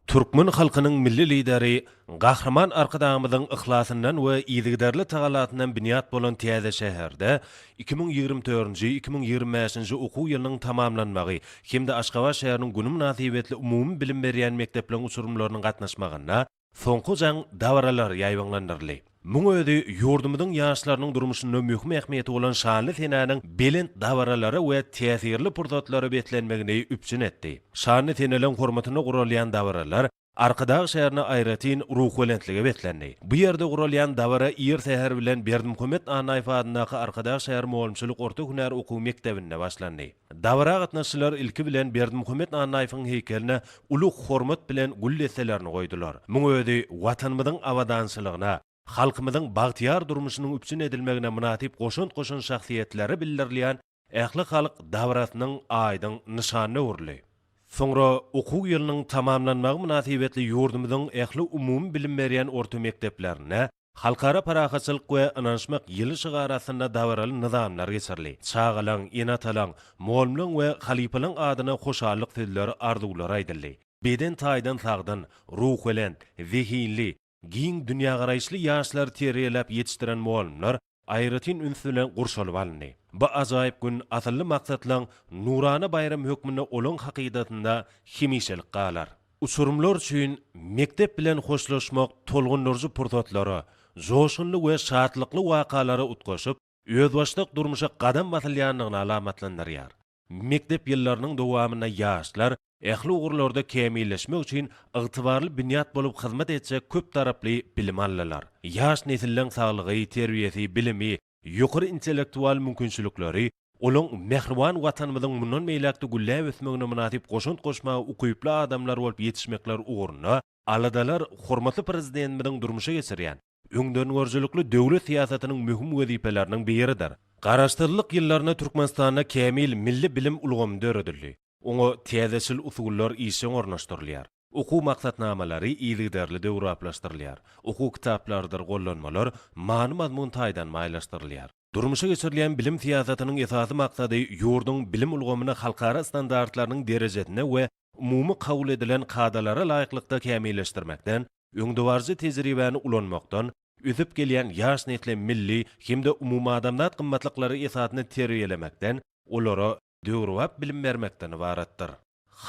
Türkmen halkynyň Milli Lideri Gahryman Arkadagymyzyň yhlasyndan we yzygiderli tagallasyndan binýat bolan täze şäherde iki müň ýigrimi dördünji, iki müň ýigrimi bäşinji okuw ýylynyň tamamlanmagy hem-de Aşgabat şäheriniň güni mynasybetli umumybilim berýän mekdepleriň uçurymlarynyň gatnaşmagynda soňky jaň dabaralary ýaýbaňlandyryldy. Muň özi ýurdumyzyň ýaşlarynyň durmuşynda möhüm ähmiýeti bolan şanly senäniň belent dabaralara we täsirli pursatlara beslenmegini üpjün etdi. Şanly seneleň hormatyna guralýan dabaralar Arkadag şäherine aýratyn ruhubelentlige beslendi. Bu ýerde guralýan dabara ir säher bilen Berdimuhamet Annaýew adyndaky Arkadag şäher mugallymçylyk orta hünär okuw mekdebinde başlandy. Dabara gatnaşyjylar ilki bilen Berdimuhamet Annaýewiň heýkeline uly hormat bilen gül desselerini goýdular. Muň özi Watanymyzyň abadançylygyna, halkymyzyň bagtyýar durmuşynyň üpjün edilmegine mynasyp goşant goşan şahsyýetlere bildirilýän ählihalk dabarasynyň aýdyň nyşanyna öwrüldi. Soňra okuw ýylynyň tamamlanmagy mynasybetli ýurdumyzyň ähli umumybilim berýän orta mekdeplerinde Halkara parahatçylyk we ynanyşmak ýyly şygary astynda dabaraly nyzamlar geçirildi. Çagalaň, ene-atalaň, mugallymlaň we halypalaň adyna hoşallyk sözleri, arzuwlary aýdyldy. Beden taýdan sagdyn, ruhubelent, zehinli, giň dünýägaraýyşly ýaşlary terbiýeläp ýetişdiren mugallymlar aýratyn üns bilen gurşalyp alyndy. Bu ajaýyp gün asylly maksatlaryň nurana baýramy hökmünde olaň hakydasynda hemişelik galar. Uçurymlar üçin mekdep bilen hoşlaşmak tolgundyryjy pursatlara, joşgunly we şatlykly wakalara utgaşyp, özbaşdak durmuşa gadam basylýandygyny alamatlandyrýar. Mekdep ýyllarynyň dowamynda ýaşlar ähli ugurlarda kämilleşmek üçin ygtybarly binýat bolup hyzmat etjek köptaraply bilim aldylar. Ýaş nesilleň saglygy, terbiýesi, bilimi, ýokary intellektual mümkinçilikleri olaň mähriban Watanymyzyň mundan beýläk-de gülläp ösmegine mynasyp goşant goşmaga ukyply adamlar bolup ýetişmekleri ugrunda Aladalar hormatly Prezidentimiziň durmuşa geçirýän öňdengörüjilikli döwlet syýasatynyň möhüm wezipeleriniň biridir. Garaşsyzlyk ýyllarynda Türkmenistanda kämil milli bilim ulgamy döredildi, oňa täzeçil usullar işjeň ornaşdyrylýar, okuw maksatnamalary yzygiderli döwrebaplaşdyrylýar, okuw kitaplarydyr gollanmalar many-mazmun taýdan baýlaşdyrylýar. Durmuşa geçirilýän bilim syýasatynyň esasy maksady ýurduň bilim ulgamyny halkara standartlarynyň derejesine we umumy kabul edilen kadalara laýyklykda kämilleşdirmekden, öňdebaryjy tejribäni ulanmakdan, ösüp gelýän ýaş nesli milli hem-de umumadamzat gymmatlyklary esasynda terbiýelemekden, olara, döwrebap bilim bermekden ybaratdyr.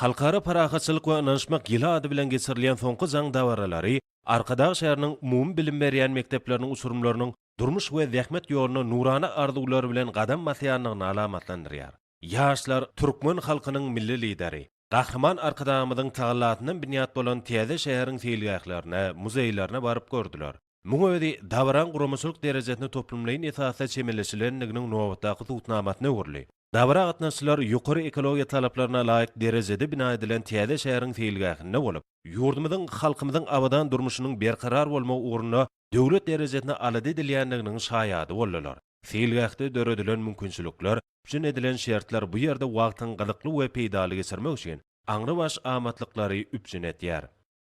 Halkara parahatçylyk we ynanyşmak ýyly ady bilen geçirilýän soňky jaň dabaralary Arkadag şäheriniň umumy bilim berýän mekdepleriniň uçurymlarynyň durmuş we zähmet ýoluna nurana arzuwlar bilen gadam basýandygyny alamatlandyrýar. Ýaşlar türkmen halkynyň Milli Lideri, Gahryman Arkadagymyzyň tagallasyndan binýat bolan täze şäheriň seýilgählerine, muzeýlerine baryp gördüler. Muň özi dabaraň guramaçylyk derejesine toplumlaýyn esasda çemeleşilendiginiň nobatdaky subutnamasyna öwrüldi. Dabara gatnaşyjylar ýokary ekologiýa talaplaryna laýyk derejede bina edilen täze şäheriň seýilgähinde bolup, ýurdumyzyň, halkymyzyň abadan durmuşynyň berkarar bolmagy ugrunda döwlet derejesinde alada edilýändiginiň şaýady boldular. Seýilgähde döredilen mümkinçilikler, üpjün edilen şertler bu ýerde wagtyň gyzykly we peýdaly geçirmek üçin aňrybaş amatlyklary üpjün edýär.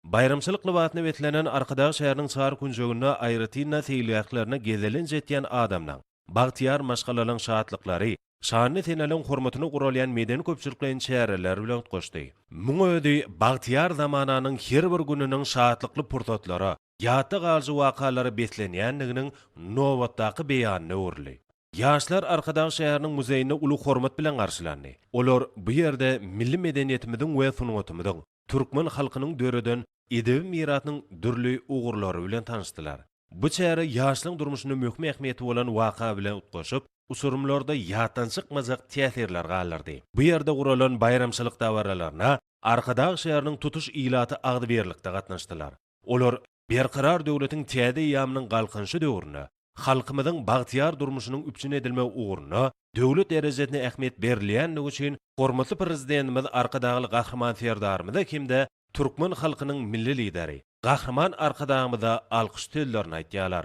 Baýramçylyk lybasyna beslenen Arkadag şäheriniň çar künjeginde aýratyn-da seýilgählerine gezelenç etýän adamlaň, bagtyýar maşgalalaň şatlyklary, şanly seneleriň hormatyna guralýan medeni-köpçülikleýin çäreler bilen utgaşdy. Muň özi bagtyýar zamananyň her bir gününiň şatlykly pursatlara, ýatda galyjy wakalara beslenýändiginiň nobatdaky beýanyna öwrüldi. Ýaşlar Arkadag şäheriniň muzeýinde uly hormat bilen garşylandy. Olar bu ýerde milli medeniýetimiziň we sungatymyzyň, türkmen halkynyň döreden edebi mirasynyň dürli ugurlary bilen tanyşdylar. Bu çäre ýaşlaryň durmuşynda möhüm ähmiýeti bolan waka bilen utgaşyp, uçurymlarda ýatdan çykmajak täsirler galdyrdy. Bu ýerde guralan baýramçylyk dabaralaryna Arkadag şäheriniň tutuş ilaty agzybirlikde gatnaşdylar. Olar Berkarar döwletiň täze eýýamynyň Galkynyşy döwründe halkymyzyň bagtyýar durmuşynyň üpjün edilmegi ugrunda döwlet derejesinde ähmiýet berilýändigi üçin hormatly Prezidentimiz Arkadagly Gahryman Serdarymyza hem-de türkmen halkynyň Milli Lideri Gahryman Arkadagymyza alkyş sözlerini aýtýarlar.